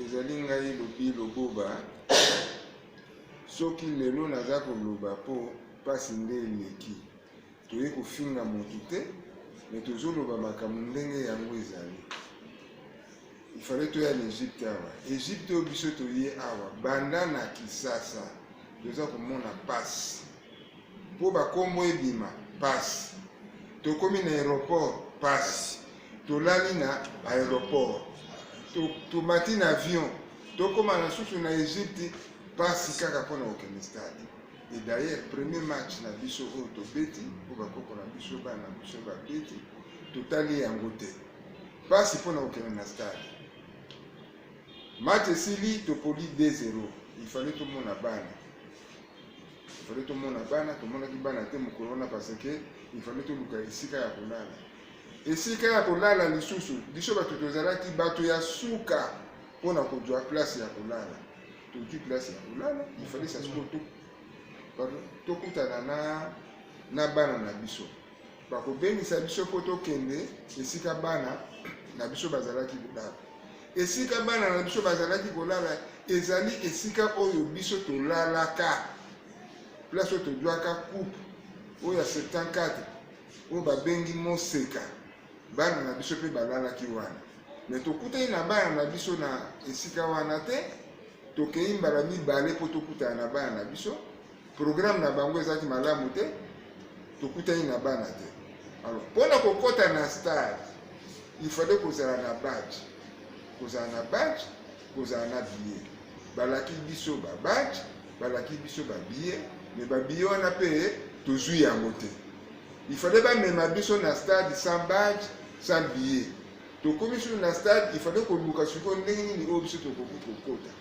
ezali ngai lobi loboba soki lelo naza koloba mpo mpasi nde eleki toye kofinga motu te me tozoloba makambo ndenge yango ezali ifale toya na egypte awa egypte oyo biso toye awa banda na kisasa toza komona mpasi mpo bakombo ebima pasi tokomi na aéroport pasi tolali na aéroport tomati na avion tokóma na susu na egypte pasi kaka mpo na kokende stade e d'ailleurs premier match na biso oyo tobeti mpo bakoko na biso bana biso babeti totali yango te pasi mpo na kokende na stade match esili topoli 2 0 ifale tomona bana ifale tomona bana tomonaki bana te mokolo wana parce que ifale toluka esika ya kolala esika ya kolala lisusu biso bato tozalaki bato ya suka mpo na kozwa place ya kolala toki place ya kolala ifale sasiko tokutana na na bana na biso bakobengisa biso mpo tokende esika bana na biso bazalaki kolala esika bana na biso bazalaki kolala ezali esika oyo biso tolalaka place oyo tozwaka coupe oyo ya 74 oyo babengi moseka bana na biso mpe balalaki wana me tokutani na bana na biso na esika wana te tokei mbala mibale mpo tokutana na bana na biso programme na bango ezalaki malamu te tokutani na bana te alors mpo na kokɔta na stade il fallait kozala na badge kozala na badge kozala na billet balaki biso ba badge balaki biso ba billet me ba billet wana mpe tozwi yango te il fallait bamema biso na stade sans badge sans billet tokomi sulu na stade il fallait koluka sikoyo ndenge nini oyo biso tokoki kokota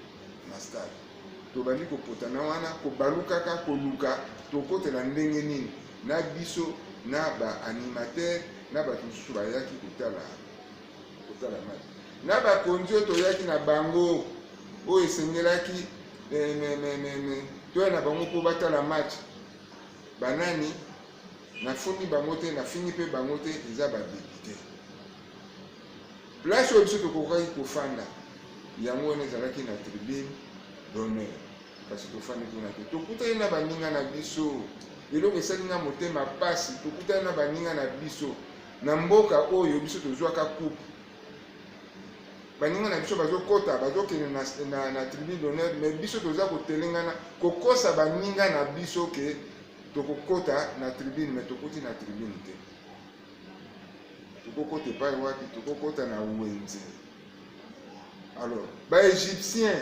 na stade tobandi kopotana wana kobalukaka koluka tokotela ndenge nini na biso na baanimatere na bato mosusu bayaki kotala kotala mai na bakonzi oyo toyaki na bango oyo esengelaki eh, toya na bango mpo batala match banani nafundi bango te nafingi mpe bango te eza badepite Place oyo biso tokokaki kofanda yango wana ezalaki na tribune d'honneur, kasi tofandi kuna te. Tokutani na baninga na biso, eloko esali nga motema mpasi. Tokutani na baninga na biso na mboka oyo biso tozwaka coupe baninga na biso bazokɔta bazokende na, na, na tribune d'honneur mais biso toza kotelengana kokosa baninga na biso ke tokokɔta na tribune mais tokuti na tribune te tokokota epai wapi tokokota na wenze alors baegyptien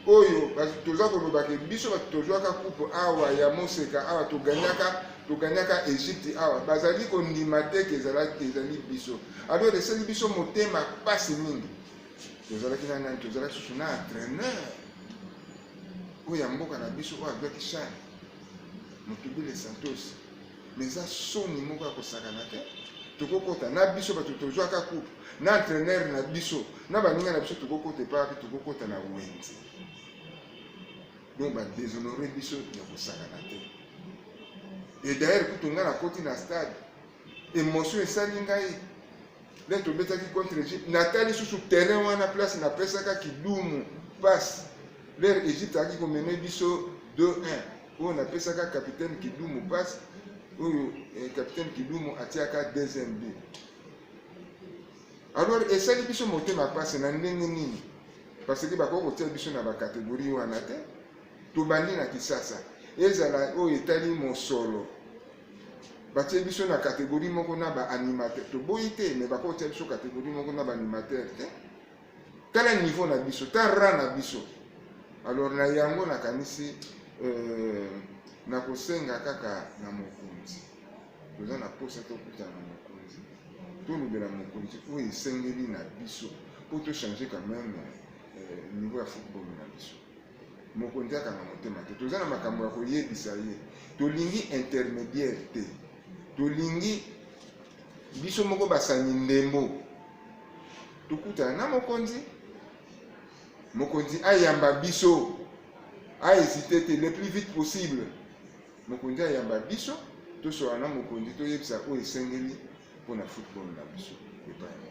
oyo toza kolobaka biso bato tozwaka coupe awa ya moseka awa toganyaka toganyaka egypte awa bazali kondima te ke ezalaki ezali biso alors esali biso motema mpasi mingi tozalaki na nani tozalaki susu na entraîneur oyo ya mboka na biso oyo azwaki shane motubile santosi me eza soni moko ya kosakana te tokokota na biso bato tozwaka coupe na entraîneur na biso na baninga na biso tokokota epai wapi tokokota na wenze donc badeshonore biso ya kosakana te e d'ailleurs kutu ngai nakoti na stade emotion esali ngai nde tobetaki contre egypte natali lisusu terrain wana place napesaka kidumu mpasi lere egypte ayaki komene biso 2-1 oyo napesaka capitaine kidumu mpasi oyo eh, capitaine kidumu atiaka deuxième but alors esali biso motema mpasi na ndenge nini parce que bakoki kotia biso na bacatégorie wana te tobandi na kisasa ezala oyo etali mosolo batie biso na kategori moko na baanimateur toboyi te me bakotia biso kategori moko na baanimateur te eh? tala niveau na biso ta ra na biso alors na yango nakanisi euh, nakosenga kaka na mokonzi toza na mposa tokutana na mokonzi tolobela mokonzi oyo esengeli na biso mpo tochange quand même euh, niveau ya football na biso mokonzi akanga motema te toza na makambo ya koyebisa ye tolingi intermédiaire te tolingi biso moko basani ndembo tokutana na mokonzi mokonzi ayamba biso ahésite te le plus vite possible mokonzi ayamba biso tosola na mokonzi toyebisa oyo esengeli mpo na football na biso epai